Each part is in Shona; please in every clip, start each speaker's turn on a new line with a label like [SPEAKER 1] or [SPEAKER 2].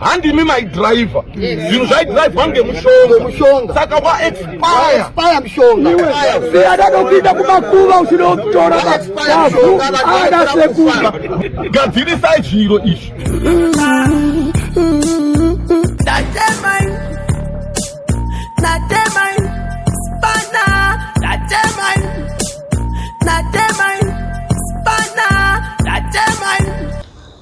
[SPEAKER 1] handimi maidriver zvinhu zvaidrivwa ngemushonga saka waexpire
[SPEAKER 2] mishongasiadada
[SPEAKER 3] kuita kumakuva uchinotora mavu ada sekuba gadzirisai
[SPEAKER 1] zviro izvi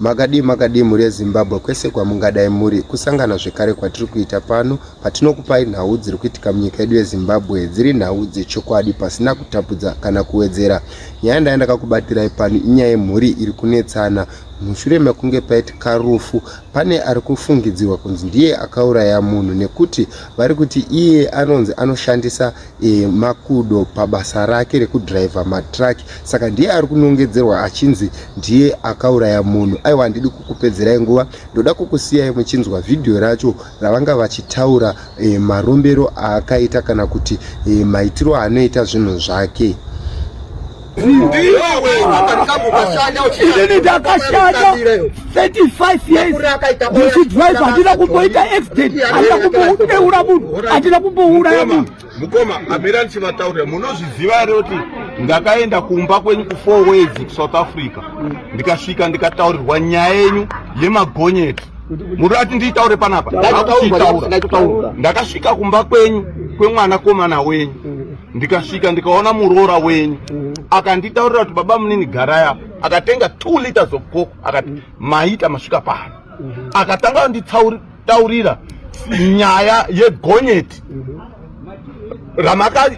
[SPEAKER 4] Makadii makadii mhuri yeZimbabwe kwese kwamungadai muri, kusangana zvekare kwatiri kuita pano patinokupai nhau dziri kuitika munyika yedu yeZimbabwe dziri nhau dzechokwadi pasina kutapudza kana kuwedzera. Nyaya ndaya ndakakubatirai pano inyaya yemhuri iri kunetsana mushure mekunge paitika rufu pane ari kufungidzirwa kunzi ndiye akauraya munhu nekuti vari kuti iye anonzi anoshandisa e, makudo pabasa rake rekudriver matruck saka ndiye ari kunongedzerwa achinzi ndiye akauraya munhu aiwa handidi kukupedzerai nguva ndoda kukusiyai muchinzwa vhidhiyo racho ravanga vachitaura e, marombero aakaita kana kuti e, maitiro aanoita zvinhu zvake
[SPEAKER 3] ndakashanda 35 years ndichidrive handina kumboita accident handina kumbodeura munhu handina kumbouraya munhu mukoma amira
[SPEAKER 1] ndichivataurira munozviziva here kuti ndakaenda kumba kwenyu kufour ways kusouth africa ndikasvika ndikataurirwa nyaya yenyu yemagonyeti muri ati ndiitaure panapa akuchiitaura ndakasvika kumba kwenyu kwemwana komana wenyu ndikasvika ndikaona muroora wenyu mm. akanditaurira kuti baba munini garaya akatenga two liters of coke akati mm. maita masvika pano mm-hmm. akatanga kunditaurira nyaya yegonyeti mm-hmm. ramaka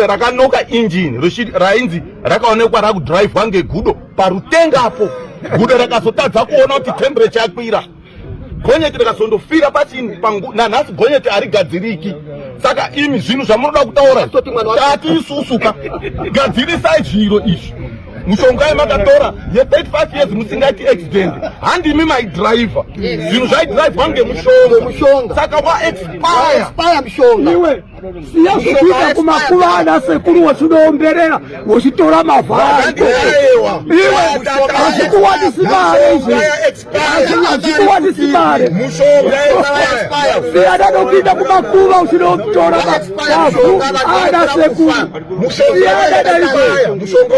[SPEAKER 1] rakanoka injini rainzi rakaonekwa rakudhiraivhwa ngegudo parutenga apo gudo rakazotadza kuona kuti temperature yakwira gonyeti rakazondofira pachini nanhasi gonyeti harigadziriki saka imi zvinhu zvamunoda kutaura tati isusuka gadzirisai zviro izvi mushonga yemakatora ye35 years musingaiti accident handimi maidriver zvinhu zvaidrivwa ngemushonga saka waexpire
[SPEAKER 2] siya
[SPEAKER 3] zvekuita kumakuva ana sekuru wechinoomberera wechitora mavhara iwe hazvikuwanisi mare izvi hazvikuwanisi mare siyana nokuita kumakuva uchinotora mavhu ana sekuru siyana naizvo